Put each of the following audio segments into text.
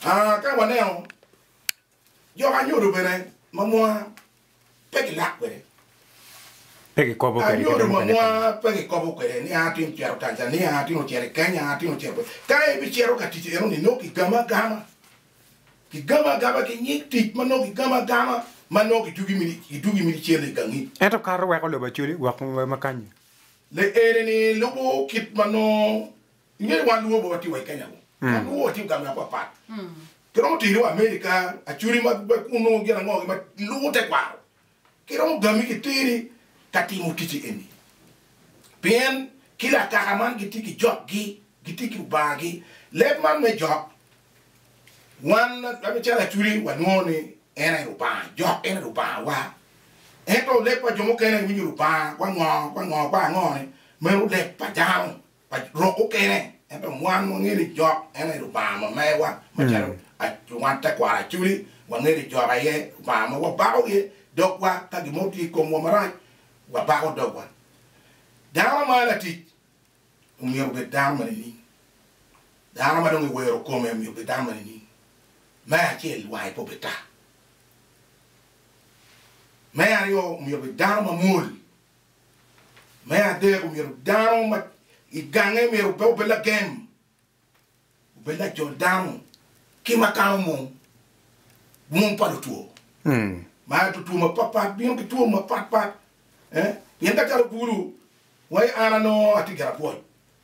Ka waneno jo ma nyodo bene ma mwa pe gilak kwede, nyodo ma mwa pe gikobo kwede ni atye ka cito Tanzania, atye ka cito i Kenya, atye ka cito kwica, ka en bicito ka tic eno ni nongo kigamo agama, kigamo agama ki nyig tic ma nongo kigamo agama ma nongo gitugi mini cente i gangi. Ento kato weko lobo acoli wek wema kanyi. Leene-ni lubo kit ma nongo Ingeyo wan luo be watye wa i Kenya kong. Wan luo watye i gang me apat pat. Ki romo tiri wa America, Acholi ma be kunu nongo gin ango gi ma lubo tekwaro. Ki romo gami ki teri ka timo ticci eni. Pien kila akaka man gitye ki jok gi, gitye ki lubanga gi. Leb man me jok, wan calo Acholi wa nongo ni en aye Lubanga, jok en aye Lubanga wa. Ento leb pa jo mukene winyo Lubanga kwango kwango kwango ni meno leb pa dano. pa rok mukene, ento wan wangeyo ni Jok en aye Lubanga ma meyowa, macalo wan tekwaro Acudi, wangeyo ni Jok aye Lubanga ma wabako iye dogwa, ka gin mo tye i komwa marac, wabako dogwa. Dano ma latic omyero obed dano ma nining? Dano ma dong ewero kome omyero obed dano ma nining? Me acel, wange pe obed tar. Me aryo, omyero obed dano mamwol, Me adek, omyero dano ma i gange myero pe obed lagem, obed lajol dano ki ma kano mung, mung pa lutwo. Ma ento two mapatpat bino ki two mapatpat, pien ka calo bulu wa an anongo atye gin apwoc.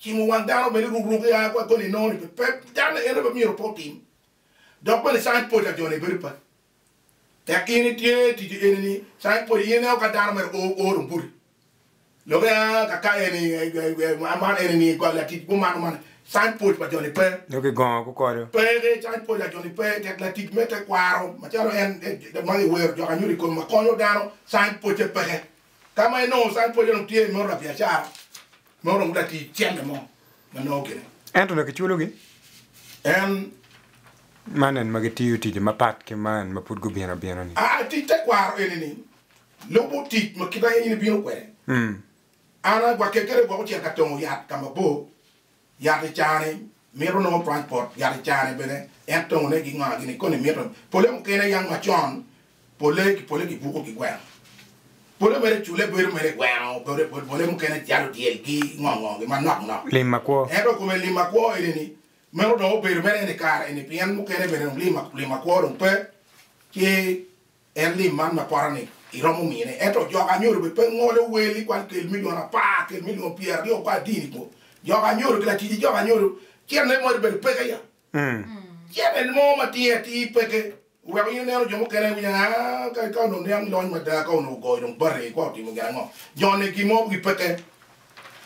Cimo wang dano bene rukruke ya ki wa koni inongo ni pe dano en aye pe myero pe otim. Dok bene science pwocca jo ni bedo paco. Tek in itye tic eni ni science pwocci in ineno ka dano mere oo oro mbuti lok ya ka ka eni man eni ni goli latic gumano man science pwoc pa jo ni pe. Nyo ki gongo ku kodo. Pe ki science pwoc a jo ni pe tek latic me te kwaro macalo en ma ki wero jok anyuto ikono ma konyo dano science pwocce peke. Ka ma inongo science pwocce dong tye i modo la biacara. ma oromo latic cente mo ma nongo gine. Ento dok kiculogi. En. Man en ma gitiyo ticce mapat ki man ma pud gubino abina-ni. Aa, tic tekwaro eni-ni lubo tic ma kit ma in ibino kwede. An agwakke kede gwoko cito ka tongo yat ka mabor, yat i caa-ni, Mito nongo twany pot yat i carane bene en tongone ginga gini koni mito pole mukene yam macon pole ki pole gibuko gi gweno pole mere cule bedo mere gweno pole pole mukene jalo dyel gi ngo ngo gi manok nok Lim ma kwo. ento kome lim ma kwo eni ni meno dong obedo mere eni kare eni pien mukene bene dong lim ma kwo dong pe ci En lim man ma pota-ni iromo mine, ento jok anyodo bene pe ngolo wel i kwan kel milion apar, kel milion pyeraryo pa adini kwo. Jok anyodo ki latic i jok anyodo cen ne moni bedo peke ya. Cen en mo ma tinge atir peke weko in ineno jo mukene i winya aa ka onongo niang lony mada ka onongo ogoyo dong bati kwa otimo gin ango. Joni gin mo gi peke.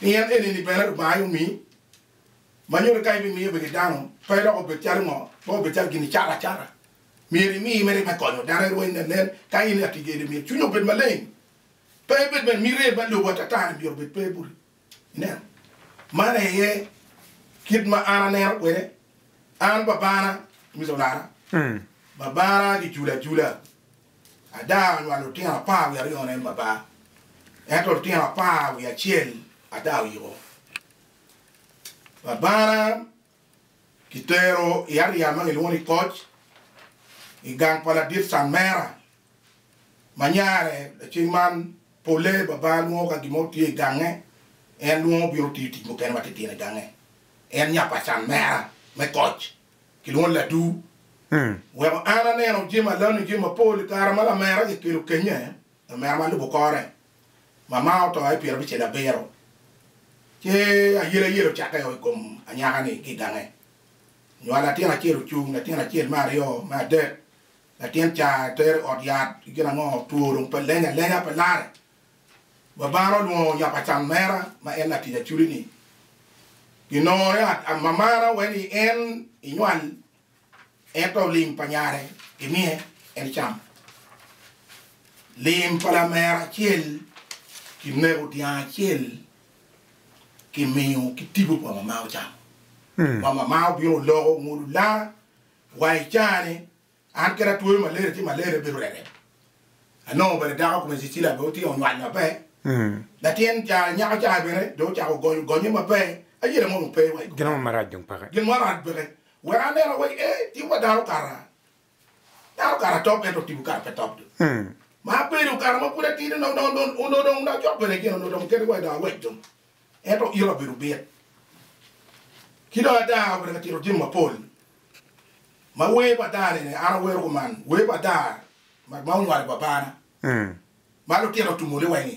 Pien enini bene Lubanga aye omi manyodo ka ibimiyo bene dano pe dok obed calo ngo pe obed calo gin icato acata. Myero imi meri me konyo dano erweny nenen ka in i atigede. Myero cwinyi obed maleng, pe ebed bene miti me lobo atata-ni myero obed pe buti. Ineno? Man aye kit ma an aneno kwede. An babana, Mr. Olara, babana kiculo acula. Ada onywalo lutino apar wiye aryo en baba, ento lutino apar wiye acel ada oyiko. Babana. Kitero i aryal ma gilwongo ni Koc i gang pa ladit Canmera. Ma nyare lacen man polle baba lwongo ka gin mo tye i gange, en lwongo bino tiyo tic mukene matitino i gange. En nya pa Canmera me Koc kilwongo ni Ladu. Weko an aneno jami alane jami mapol i kare ma lamera kikelo kenye, lamera ma lubo kore Mama oto i pyera abicel abiro, ce ayelayela ocakke o i kom anyaka-ni ki i gange. Nywalo latin acel ocung, latin acel, me aryo, me adek. Latin ca etere i ot yat ki gin ango, two dong pe leny alenya, pe lare. Babana olwongo nyapa can mera ma en latic aculi-ni. Ginongo ni amamana wai ni en inywal Ento lim pa nyare gimiye en ecamo. Lim pa lamera acel kinego dyang acel kimiyo ki tipo pa mama ocamo. Wa mama obino loko ongolo lara wa i caa ni an kit atwoyo malaria ci malaria obedo rerem. Anongo bene dako kome Cecilia bene otye onywal maber. Latin caa nyako caa bene dong ocako gonyo gonye maber. Ayera mono pe wa i kom meno. Gin mo marac dong peke. Wek aneno awek ee tim pa dano kara dano kara top ento timmi kara pe top dong ma abedo kara ma pud atidi onongo dong onongo dong onongo cok bene gin onongo dong oketo wai dong awec dong ento ito abedo bit ki dong ada obedo ka tito jami mapol ma wer pa ada ni an awero kuman wer pa ada ma onywalo babana ma lutino otumo ni wai ni.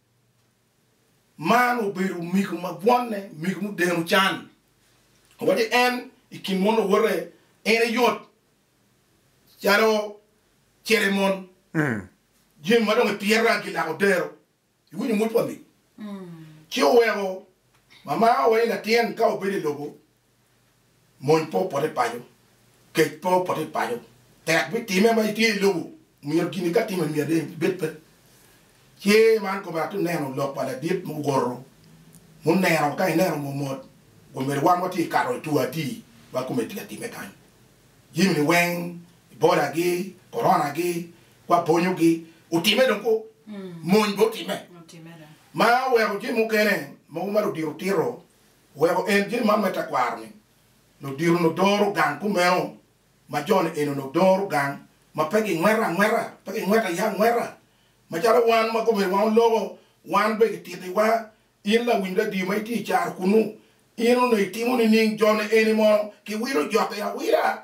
Man obedo omego ma bwonne, omego mudeno can. Wacci en i kin mon lawote, en aye yot calo cere mon. Jami ma dong epyeta gilako dero. Iwinyo mot pa min? Ci oweko mama owaco ni latin ka obedo i lobo Mony pe opot i paco, kec pe opot i paco, tek me time ma itye i lobo myero gin ka timo myero dong ibed pe ce man kome atye neno lok pa ladit ma owoto muneno ka ineno mot mot kun myero wan watye i kato i two atir ma kome tye ka time kany jimi ni weng Ebola gi korona gi wa bonyo gi otime dong ko mony be otime ma oweko jimi mukene mogo ma ludito tito Weko en gin man me tekwaro ni, ludito nudoro gang kumeno ma jone eno nudoro gang ma pe gingweta angweta, pe gingweta aye angweta. Macalo wan ma komere wa oloko, wan bene gititi wa, in lawiny radio ma itye icaro kunu, in onongo itimo nining jone eni mono ki wilo jokke awila?